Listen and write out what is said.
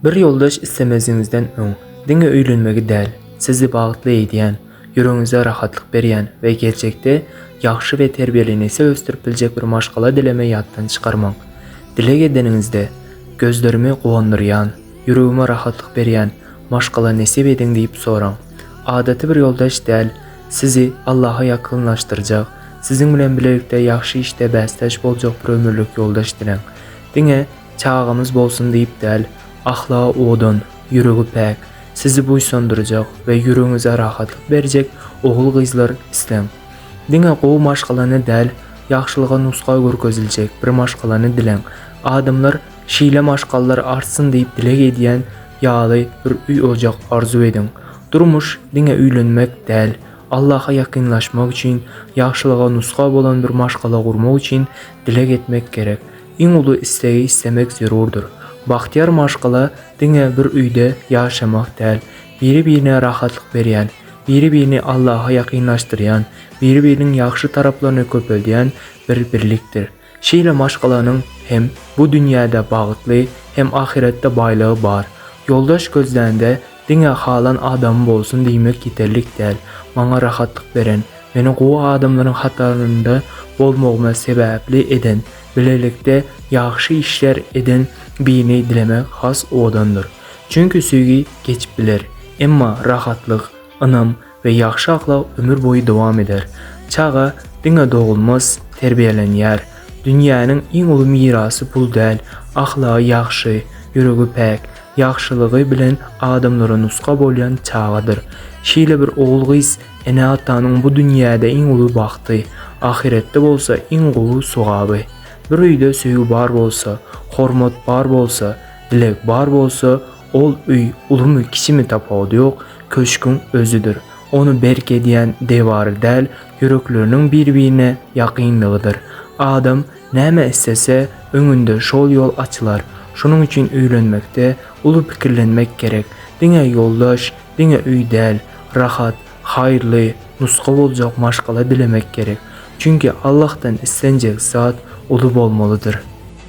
Bir ýoldaş islemeziňizden öň, diňe öýlenmegi däl, sizi bagtly edýän, ýüregiňize rahatlyk berýän we geljekde ýagşy we terbiýeli nesil ösdürip biljek bir maşgala dileme ýatdan çykarmaň. Dileg edeniňizde, Gözlerimi guwandyrýan, ýüregime rahatlyk berýän maşgala nesip ediň diýip soraň. Adaty bir ýoldaş däl, sizi Allaha ýakynlaşdyrjak, siziň bilen bilelikde ýagşy işde bäsdeş boljak bir ömürlik ýoldaş diläň. Diňe Çagamyz bolsun diýip däl, ahlagy owadan, ýüregi päk, sizi buýsandyrjak we ýüregiňize rahatlyk berjek ogul-gyzlar isläň. Diňe gowy maşgalany däl, ýagşylyga nusga görkeziljek bir maşgalany diläň. Adamlar şeýle maşgallar artsyn diýip dileg edýän ýaly bir öý-ojak arzuw ediň. Durmuş diňe öýlenmek däl, Allaha ýakynlaşmak üçin, ýagşylyga nusga bolan bir maşgala gurmak üçin dileg etmek gerek. Iň uly islegi islemek zerurdyr. Bagtyýar maşgala diňe bir öýde ýaşamak däl, biri-birine rahatlyk berýän, biri-birini Allaha ýakynlaşdyrýan, biri-biriniň ýagşy taraplaryny köpeldýän bir birlikdir. Şeýle maşgalanyň hem bu dünýäde bagtly, hem ahyretde baýlygy bar. Ýoldaş gözlände Diňe halan adamym bolsun diýmek ýeterlik däl. Maňa rahatlyk beren, meni gowy adamlaryň hatarynda bolmagyma sebäpli eden, bilelikde ýagşy işler eden birini dilemek has owadandyr. Çünki söýgi geçip biler, emma rahatlyk, ynam we ýagşy ahlak ömür boýy dowam eder. Çaga diňe dogulmaz, terbiýelenýär. Dünýäniň iň uly mirasy pul däl, ahlagy ýagşy, ýüregi päk, ýagşylygy bilen adamlara nusga bolýan çagadyr. Şeýle bir ogul-gyz ene-atanyň bu dünýäde iň uly bagty, ahyretde bolsa iň gowy sogaby. Bir öýde söýgi bar bolsa, hormat bar bolsa, dileg bar bolsa, Ol öý ulumy-kiçimi tapawudy ýok, köşgüň özüdir. Ony berk edýän dewary däl, ýürekleriniň bir-birine ýakynlygydyr. Adam näme islese, öňünde şol ýol açylar. Şonuň üçin öýlenmekde uly pikirlenmek gerek. Diňe ýoldaş, diňe öý däl, rahat, haýyrly, nusga boljak maşgala dilemek gerek. Çünki Allahdan islenjek zat uly bolmalydyr.